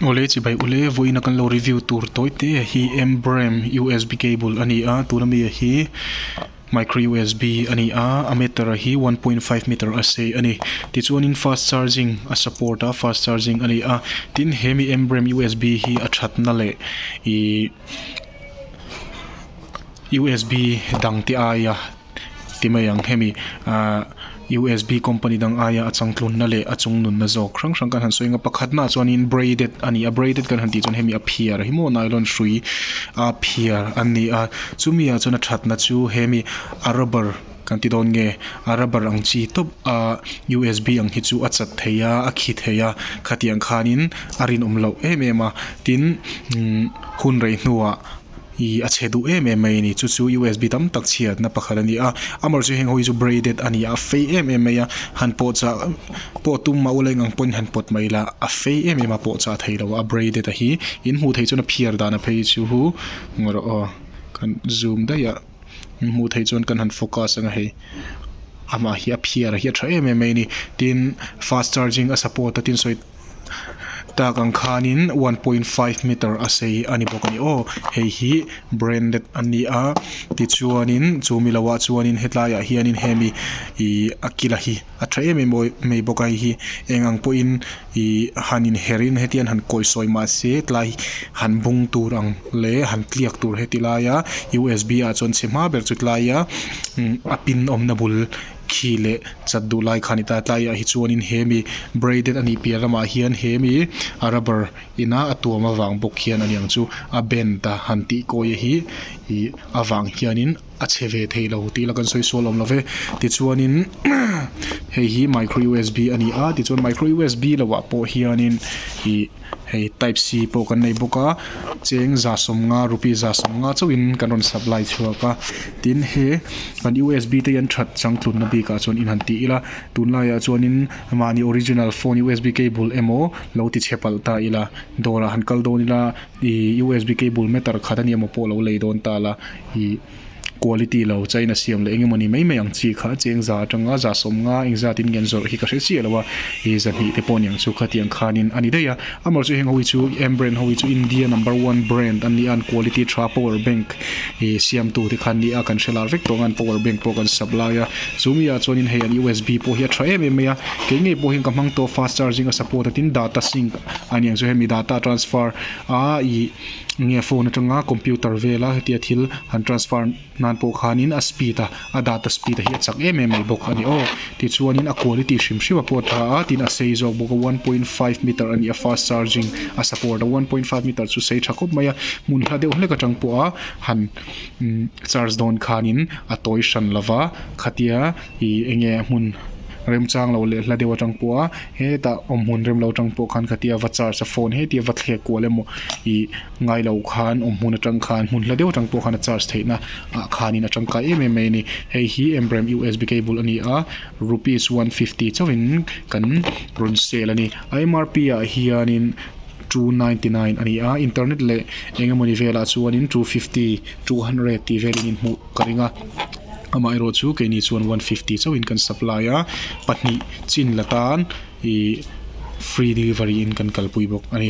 Awle chi bai ule vawiin a kan lo review tur tawi te hi M brem usb cable a ni a tuna mi ah hi micro usb a ni a a meter ah hi one point five meter a sei a ni tichuan in fast charging a support a fast charging a ni a tin he mi M brem usb hi a that na leh ihh usb dang te aia-- Ti mai ang. Hemi USB company dang aia a changtlunna leh a chung nunna zawk hrang hrang kan han sawi ang a. Pakhat hmaah chuanin braided a ni a. Braided kan han tih chuan hemi a phiar hi maw nylon hrui a phiar a ni a. Chumiah chuan a thatna chu hemi a rubber kan ti dawn nge a rubber ang chi tawp a USB ang hi chu a chat thei a, a khi thei a. Khatiang khanin a rinawm loh em em a. Tin umm hun rei hnuah-- I a chhe duh em em mai a ni. Chu chu USB tam tak chhiatna pakhat a ni a. Amaw chu heng ho hi chu braided a ni a, a fei em em mai a. Han pawh chah pawh tum a awleng ang pawhin han pawt mai la, a fei em em a pawh chah thei lo a, a braided a hi. In hmuh theih chuan a phiar dan a phei chu hu ngawh rawh aw. Kan zoom daih a, in hmuh theih chuan kan han focus ang a hei. Amah hi a phiar a hi a tha em em mai a ni. Tin fast charging a support a tin sawi-- tak ang khanin one point five meter a sei a ni bawk a ni aw hei hi branded a ni a tichuanin chu mi lohah chuanin hetlaiah hianin hemi ihh a kila hi a tha em em awih mai bawk a hei hi eng ang pawhin ihh han inher in hetian han kawi sawi mahse tlai han bung tur ang leh han tliak tur heti laia usb ah chuan chhe hma ber chu tlaia umm a pin awmna bul-- khi leh chat duh lai khan i ta a, tlaiah hi chuanin he mi braided a nih piah lamah hian he mi rubber ina a tuam avang bawk hian aniang chu a bend a han tih kawi a hi ih avang hianin a chhe ve thei lo tih ila kan sawi sual awm lo ve tichuanin hei hi micro usb a ni a tichuan micro usb lohah pawh hianin ih-- hei type c pawh kan nei bawk a cheng za sawmnga rupee za sawmnga chauh in kan rawn supply chhuak a tin he kan usb te hi an that chang tlutna bik ah chuan in han ti ila a tun lai ah chuan in mahni original phone usb cable emaw lo ti chhe palh ta ila dawr ah han kal dawn ila ihh usb cable matter khat a nih a maw pawh lo lei dawn ta la ihh-- Quality lo, chain a siam leh eng emaw ni mai mai ang chi kha cheng za atanga za sawm nga eng zat in ngen zawrh hi ka hre chiah lo a, i za hnih te pawh niang chu kha tiang khan in a ni daih a, amaw chu heng ho hi chu M brand ho hi chu India number one brand an ni a an quality tha power bank i siam tu te khan nia kan hre lar vek tawh ang an power bank pawh kan sap lai a chu mi ah chuan in hei an usb pawh hi a tha em em mai a kei ngei pawh hian ka hmang tawh fast charging a support a tin data sync a niang chu hemi data transfer a i Enge phone atanga computer vela hetia thil han transfer nan pawh khanin a speed a a data speed a hi a chak em em mai bawk a ni aw tichuanin a quality hrim hrim a pawt tha a tin a sei zawk bawk a one point five meter a nih a fast charging a support a one point five meter chu sei tha khawp mai a hmun hla deuh hlek atang pawha han charge dawn khanin a tawi hran lova khatia. I enge hmun remchang lo leh hla deuh atang pawh a hetah awm hun rem lo atang pawh khan ka tia va charge a phone hetia va thlek kual emaw i ngai lo khan awm hun atang khan hmun hla deuh atang pawh khan a charge theih na ah khan in a tangkai em em mai a ni hei hi em rem usb cable a ni a rupees one fifty chauh in kan rawn sale a ni a mrp ah hian in two ninety nine a ni a internet leh eng emaw ni vel ah chuan in two fifty two hundred tih vel in hmuh-- ka ring a amah erawh chu keini chuan one fifty chauhin kan supply a pahnih chin la tan ih free delivery in kan kalpui bawk a ni.